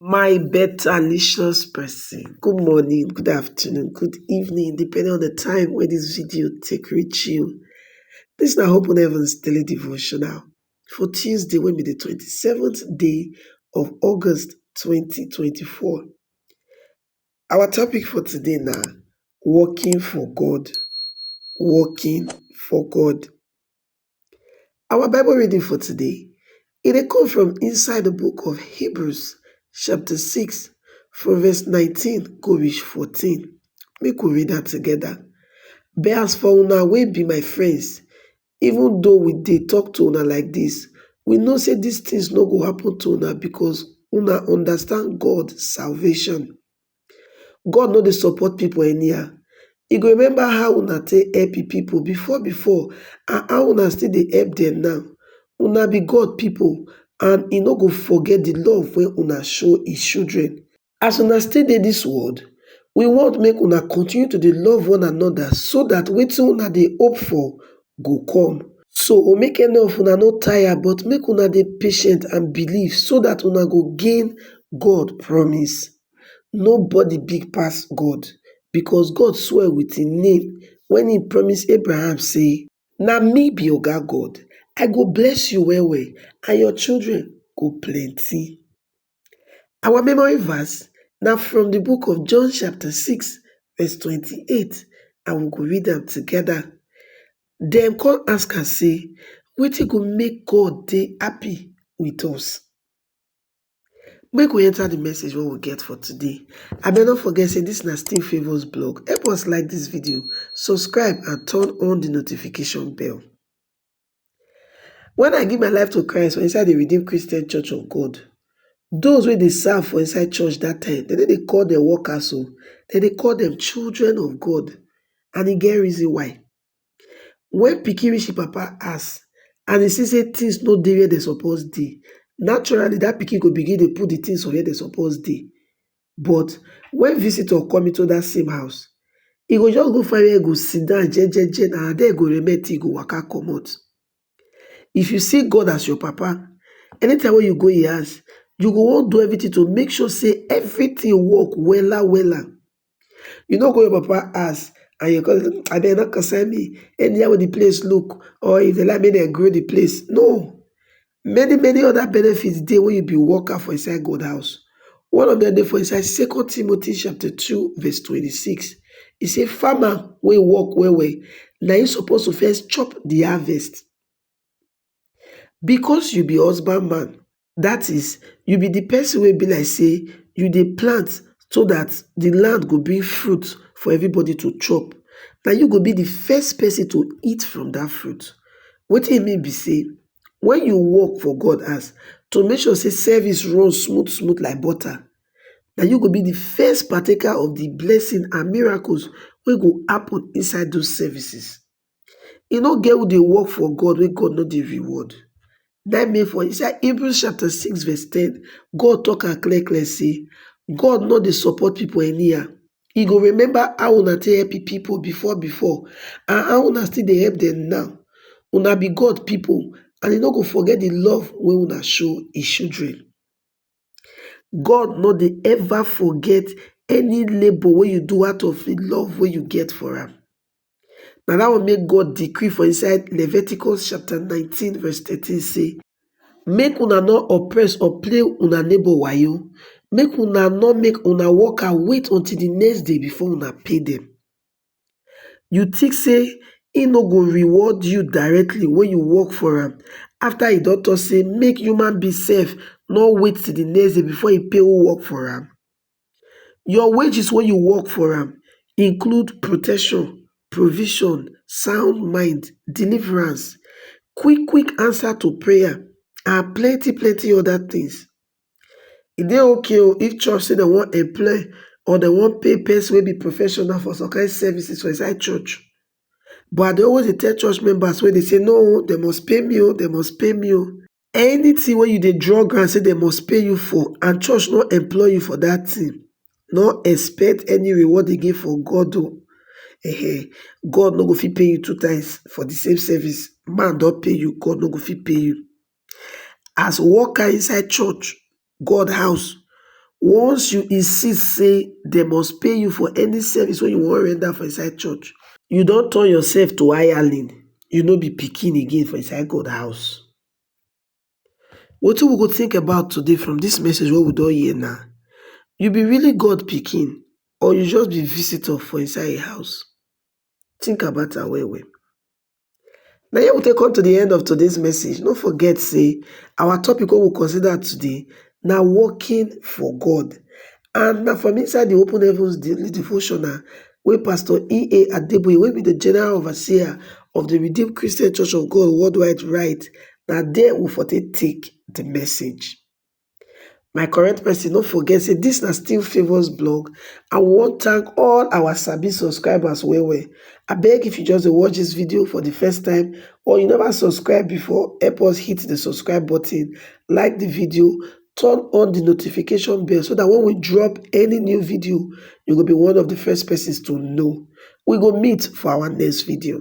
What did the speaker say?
My betterlicious person, good morning, good afternoon, good evening, depending on the time wey this video take reach you. This na Hope on Heaven's daily devotional for Tuesday wey be the 27th day of August 2024. Our topic for today na working for God, working for God. Our Bible reading for today, e dey come from inside the book of Hebrews chapter 6 from verse 19 go reach 14. Make we read am together. But as for una wey be my friends, even though we dey talk to una like this, we know say these things no go happen to una because una understand God salvation. God no dey support people anyhow, e go remember how una take help him people before before and how una still dey help them now. Una be God people and he no go forget the love wey una show his children. As una still dey this world, we want make una continue to dey love one another so that wetin una dey hope for go come. So make any of una no tire but make una dey patient and believe so that una go gain God promise. nobody big pass god because god swear with im name when he promise abraham say na me be oga god i go bless you well well and your children go plenty our memory verse na from the book of john chapter 6 verse 28 and we go read am together dem come ask am say wetin go make god dey happy with us Make we enter the message wey we get for today. Abeg no forget say this na still favours blog. Help us like this video, subscribe and turn on the notification bell. When I give my life to Christ for inside the Redeemed Christian Church of God, those wey dey serve for inside church that time, dem no dey call them workers o, dem dey call them children of God and e get reason why. Wen pikin reach im papa house and e see sey things no dey where dem suppose dey, naturally dat pikin go begin dey put de things for where dem suppose dey. But wen visitor come into dat same house, e go just go find where e go sit down jejeje, na there e go remain till e go waka comot. If you see God as your papa, anytime wey you go im house, you go wan do everything to make sure sey everything work wella wella. You no go your papa house and you come say abeg no concern me, anyhow wey de place look or if dem like make dem grow de place, no. Many many other benefits dey when you be worker for inside God house. One of dem dey for inside second Timothy chapter two verse twenty six, e say farmer wey work well well na im suppose to first chop de harvest. Because you be husband man dat is you be di pesin wey be like say you dey plant so dat di land go bring fruit for everybody to chop na you go be di first pesin to eat from dat fruit wetin e mean be say wen you work for God house to make sure say service run smooth smooth like butter na you go be di first partaker of di blessing and miracles wey go happen inside those services e no get who dey work for God wey God no dey reward. Na im make for inside Hebrews chapter six verse ten, God talk am clear clear say God no dey support people anyhow. He go remember how una take help people before before and how una still dey help them now. Una be God people and he no go forget the love wey una show his children. god no dey ever forget any labor wey you do out of him love wey you get for am na that one make God decree for inside Leviticus chapter 19 verse 13 say make una no oppress or play una neighbor wayo make una no make una worker wait until the next day before una pay them you tink say e no go reward you directly wen you work for am afta e don tok say make human being sef nor wait till di next day before e pay who work for am your wages wen you work for am include protection provision sound mind deliverance quick quick answer to prayer and plenty plenty oda tins E dey okay o if church say dem wan employ or dem wan pay pesin wey be professional for some kain services for inside church but I dey always dey tell church members wey dey say no o dem must pay me o dem must pay me o. Anytin wey you dey draw ground say dem must pay you for and church no employ you for dat tin, no expect any reward again from God o um God no go fit pay you two times for di same service. Man don pay you, God no go fit pay you. as worker inside church god house once you insist say dem must pay you for any service wey you wan render for inside church you don turn yourself to hireling you no be pikin again for inside god house wetin we go think about today from this message wey we don hear na you be really god pikin or you just be visitor for inside him house think about am well well Na here we take come to di end of today's message, no forget sey our topic wey we consider today na working for God and na from inside di open heavens devotional wey pastor EA Adeboye wey be di general overseer of di Redeem Christian Church of God worldwide write, na there we for take take di message. My correct person no forget say this na still favours blog and we wan thank all our sabi subscribers well well. Abeg if you just dey watch this video for the first time or you never subscribe before help us hit the subscribe button, like the video, turn on the notification bell so that when we drop any new video you go be one of the first persons to know. We go meet for our next video.